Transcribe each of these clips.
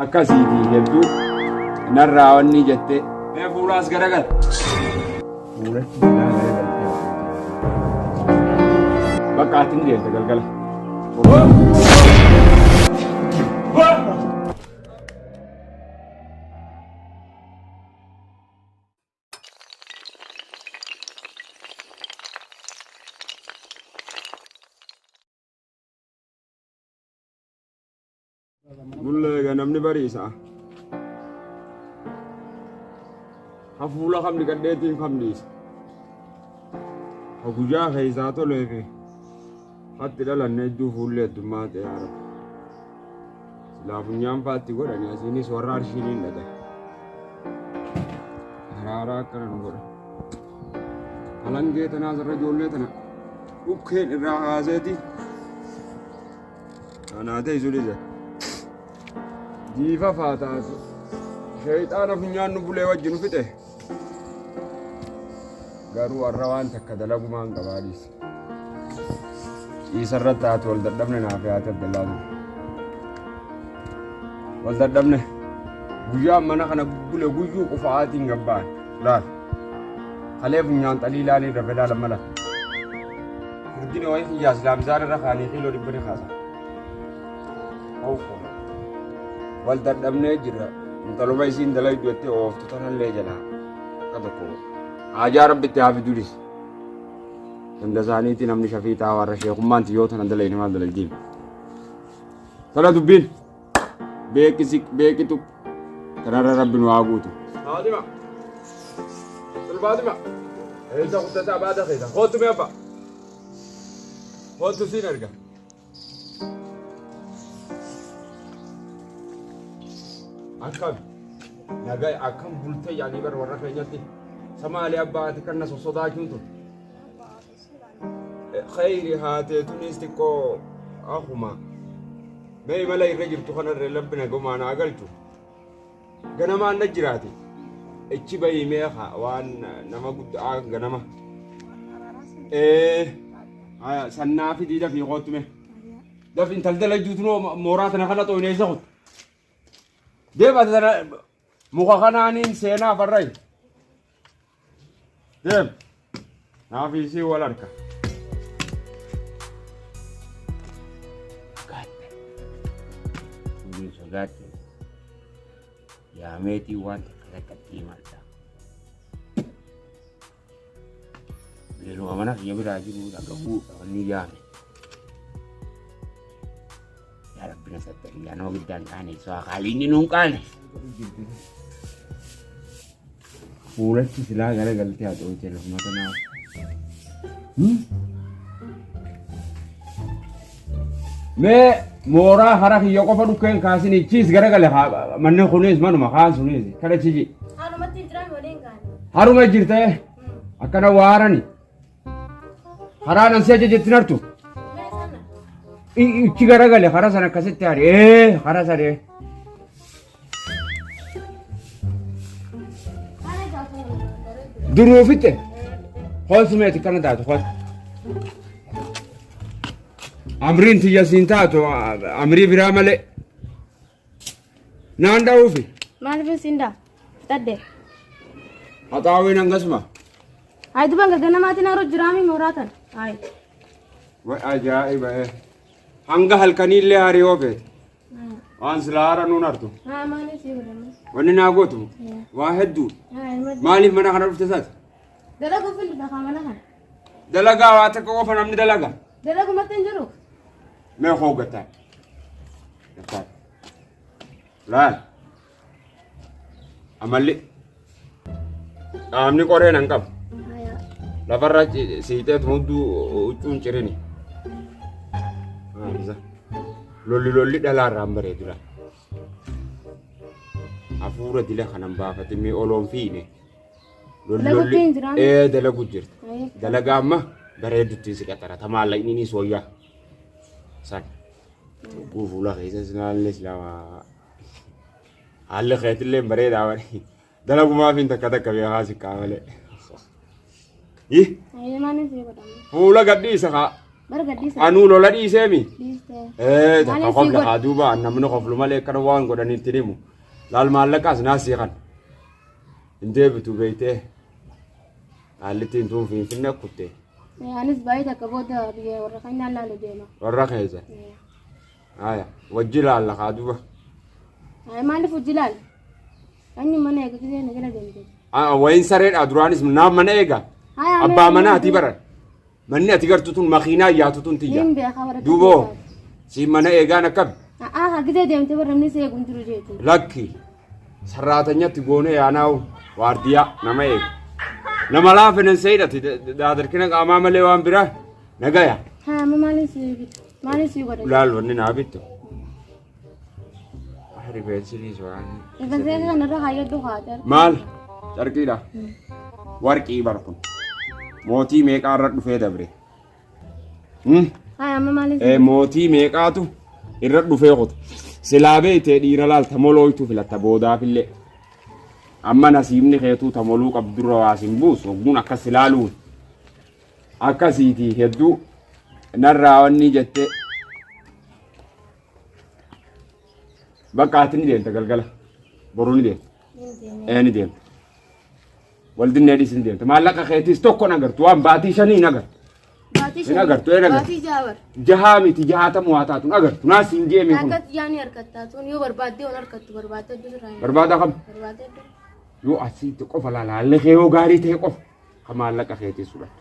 Akkasiiti jettu narraa wanni jette. Mee fuulaas garagal. Fuulatti bitaa garagaltee. Bakka ati ni deemte galgala. Bulla egaa namni bariisa. Hafuula kamni gadheetiin kamniisa. Ha guyyaa keessaa tolee fi hatti dhalanne hedduu fuullee addummaa ta'e haara. Silaa funyaan faatti godhani asiinis warra arshiin hin dhagaye. Haraaraa akkana nu godha. Halangee tanaas irra ijoollee tana dhukkeen irraa haaseeti. Anaa ta'e isu dhiise. Jiifa faataas sheeyxaana funyaan nu bulee wajji nu fixe. Garuu warra waan takka dalagumaan qabaa dhiise. Dhiisa irratti haati wal dadhabne naaf yaate Abdallaa ture. Wal dadhabne guyyaan mana kana bule guyyuu qufa'aatiin gabbaan laal. Kalee funyaan xaliilaa ni dafe laala mala. Furdini wayi kiyyaa silaa mizaan irra kaanii kiiloo dhibba ni kaasa. Awwoo. Wal dadhabnee jirra. Intaluma isiin dalaydu jettee ooftu tanallee jalaa. Akka tokko. Haajaa rabbitti haa fidulis. Hunda isaaniitti namni shafii taa warra sheekummaan tiyyoo tana dalayne maal dalaydiin. Tana dubbiin. beeki siq beeki tuq tarara rabbi nu haa guutu Fatima. Tul Fatima. Eessa guddata abbaa dakeessa. Kootu mee abbaa. Kootu siin erga. Akkam. Nagaa akkam bultee yaanii bara warra keenyatti. Samaalee abbaa ati kan na sossodaachuun tun. khayri haatee tunis xiqqoo akkuma mee imala irra jirtu kanarra labbi nagumaan haa galchu ganamaan na jiraate ichi bayii mee haa waan nama guddaa ganama ee haya sannaa fi diida fi kootu mee dafin taldala juutu noo mooraa tana kana xooyneessa kutu deema tana muka kanaaniin seenaa farrayi Deem. Naaf isii wal harka. Gaatte. Tuulii sodaatte. Yaa meetii waan takka takkatti himadha. Beeluma mana kiyya biraa jiru akka bu'uudha wanni yaame. Yaa rabbi na sattari yaa nama giddaan qaane isaa haalli inni nuun qaane. Fuulachi silaa gara galtee haxoochee lafuma kanaa. Mee mooraa hara kiyya qofa dhukkeen kaasini chiis gara gale manni kunis manuma kaan sunis kana chiji. Haalumatti hin jiran waliin gaani. Haruma jirtee akkana waarani. Karaa nan si ajajettin hartu. Ichi garagale karaa sana akkasitti hari. Ee karaa sana. Duruu fitte. Hoos meeti kana taatu hoos. Amriin tiyya siin taatu amrii biraa malee. Naan dha'uufi. Maaliif siin dha? Fixadde. Haxaawwiin hangasuma. Ayi duban gaggana maatiin haroo jiraamii mooraa tan. Ayi. Way ajaa'iba ee. Hanga halkanii illee hariyoo feete. Waan silaa hara nuun hartu. Haa maaliif sii godhamu? Wanni naa gootu waa hedduu. Haa ilma. Maaliif mana kana dhufte isaati? Dalaguuf hin dhufa kaa mana kana. Dalagaa waa takka qofa namni dalaga. Dalagumatti hin jiru. Mee koo gataa. Gataa. Laal. Amalli. Qaamni qoree nan qabu. Haya. Lafarra ci- siitee hunduu huccuun cirini. Maalisa. Lolli lolli dhalaarraa hin bareedu laal. Hafuura dila kanan baafatee mee oloon fiine. Lolli ee dalagu jirti. Dalagaa amma bareeduttiin si qaxara. Tamaalla inni ni sooyyaa. San. Lubbuu fuula keessa sinaallee silama. Haalli keetillee bareedaa wani. Dalagumaaf hin takka takka beekaa si qaamalee. Ih. Fuula gadhiisa kaa. Anuu lola dhiiseemi. Ee takka kofla haa duuba namni koflu malee akkana waan godhanitti himu. Laal maallaqaas naasii kana. Hin deebitu beeytee qaallittiin tuun finfinne kutte Eh, Anis baay'ee takka booda biyya warra keenyaan laalu deema. warra keessa. Eh, Haya wajji laalla kaa duba. Ay maaliif hojii laala? Anyi mana eega gisee na jala deemte. Ah, Wayin sareedha duraanis naaf mana eega. Haya, Abbaa manaatii bara. Manni ati gartu tun makiinaa yaatu tun tiyya. Niin beekaa warra Duuboo keessaa. siin mana eegaan akkami? A'aa hagidee deemtee warra namni si eeguun jiru jeeti. Lakki sarraatanyatti goonee yaanaa'u waardiyaa nama eegu. Nama laafinen seedhati daadarkina qaamaa malee waan biraa nagaya. Haa amma maaliin si bitu? Maaliin si godha? Laal wanni naa bittu. Rifeensini suuraan. Rifeensa kana irra haayyaddu haadha. Maal? Carqiidha. Warqii bar kun. Mootii meeqaa irra dhufee dabre? Hmm? Haaya amma maaliif? Eh, Mootii meeqaatu irra dhufee kuta. Silaa beeytee dhiira laalta molooytu filatta boodaafillee. Amma nasiibni keetuu tamoluu qabdurra waa sin buusu ogguun akkas ilaaluun. akkasiiti hedduu narraa wanni jette bakka ati ni deemta galgala boruu ni deemta ee ni deemta wal dinnee dhiis ni deemta maallaqa keetiis tokko hin agartu waan baatii shanii hin agartu Baatii Hin agartu, hin agartu. Baatii jaawar. jahaa miti jahaatamu waa taatu hin agartu naas hin jeemee kun Akkatti yaani harkattaa tun yoo barbaaddee waan harkattu barbaadde iddoo irraa hin barbaada kam barbaadde iddoo. yoo asitti qofa laalaallee kee yoo gaarii ta'e qofa Ka maallaqa keetii sudhadhu.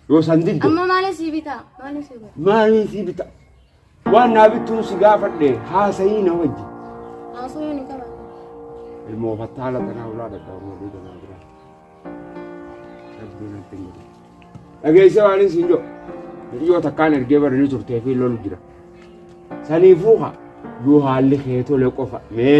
Yoo san didde Amma maaliin sii bitaa? Maaliin sii bitaa? maaliin sii bita? Waan naa bittuun si gaafadhe haasayii na wajji. Haasoo yoo ni qaban. Ilmoo fattaala tanaa ulaa dhaqaba mooduu tanaa biraa. Rabbiin natti hin godhu. Dhageessee waaniin siin jedhu. Hiriyoo takkaan ergee baranii turtee fi lolu jira. Saniifuu haa yoo haalli kee tole qofa mee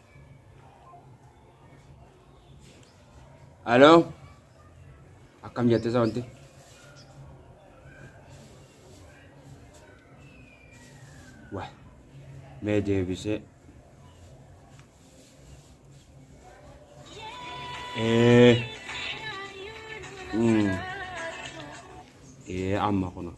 Aloo akkam jette sawanti? Waa mee deebisee. Ee. Mm. Ee amma kunoo.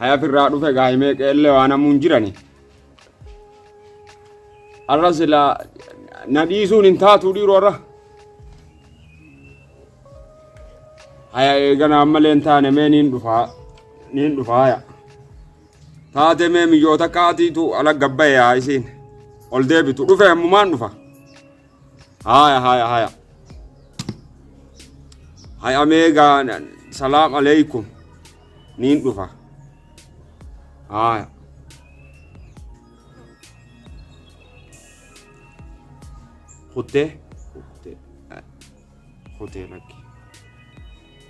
haya firraa dhufe gaa'imee qeellee waan hamuun jirani arra silaa na dhiisuun hin taatuu dhiiroo irra haya eeganaa malee hin taane mee niin dhufaa niin dhufaa haya Taatee mee miyyoota qaatiitu ala gabbaye haa isiin. Ol deebitu dhufe ammumaan dhufa. Haaya haaya haaya. Hay ameegaa salaam aleeykum niin dhufa. Haaya. Kuttee kuttee kuttee lakki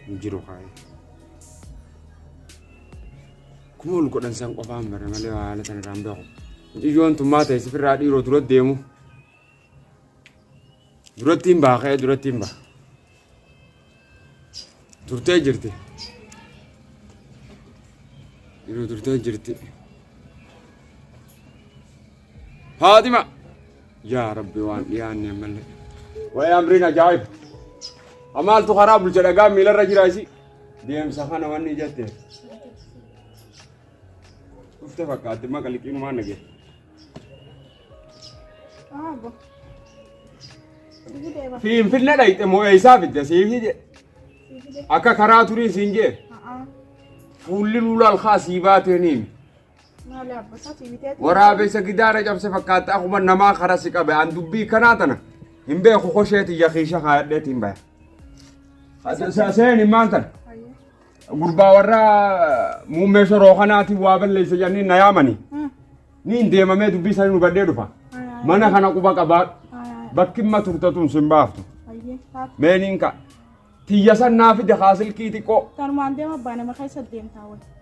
hin jiru kaayee. Akkuma ol godhan san qofaan barre malee waa haala sana irraa hin beeku. Mucayyoon tummaa ta'e sifirraa dhiiroo dura deemu. Duratti hin baha ka'ee duratti hin baha. Turtee jirti. Yeroo turtee jirti. Faaxima. Yaa Rabbi waan dhiyaanne ammallee. Waa'ee amriin ajaa'iba. Amaaltu karaa bulcha dhagaa miilarra jira isi. Deemsa kana wanni jette. Dhufte fakkaatti maqa liqiinumaan nagee. Aabo. Sigi deeba. Finfinne dhayxe moo eessaa fidde siif jedhe. Akka karaa turii siin jee. Haa. Fuulli luulaa alkaa sii baatee ni himi. Maali abbo isaati bitee. Waraabessa gidaara cabse fakkaata akkuma namaa karaa si qabe an dubbii kanaa tana hin beeku kosheeti yakiisha kaadheetiin baya. Seeni maal tana? Gurbaa warra muummee shoroo kanaatiin waa balleessa jedhanii na yaamanii. Ni hin deemamee dubbii isaanii nu baddee dhufa. Mana kana quba qabaadhu. Bakki imma turte tun sin baaftu. Meeniin ka. Tiyya san naa fide haa silkii xiqqoo. Tanumaan deema abbaa nama keessa deemtaa wayii.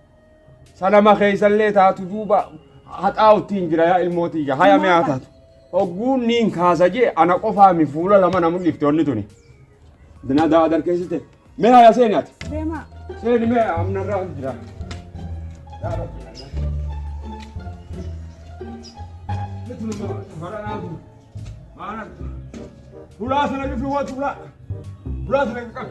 Salama keessallee taatu duuba haxaa'uttiin jira yaa ilmoo tiyya haya mi'aa taatu. Ogguun niin kaasa jee ana qofaa mi fuula lama na mul'ifte onni tuni. Dina daa darkeessite. Mee haya seeni ati. Deemaa. Seeni mee amna irraa jira. Yaa Rabbi. Hulaa sana bifi watu hulaa. Hulaa sana qaqqabe.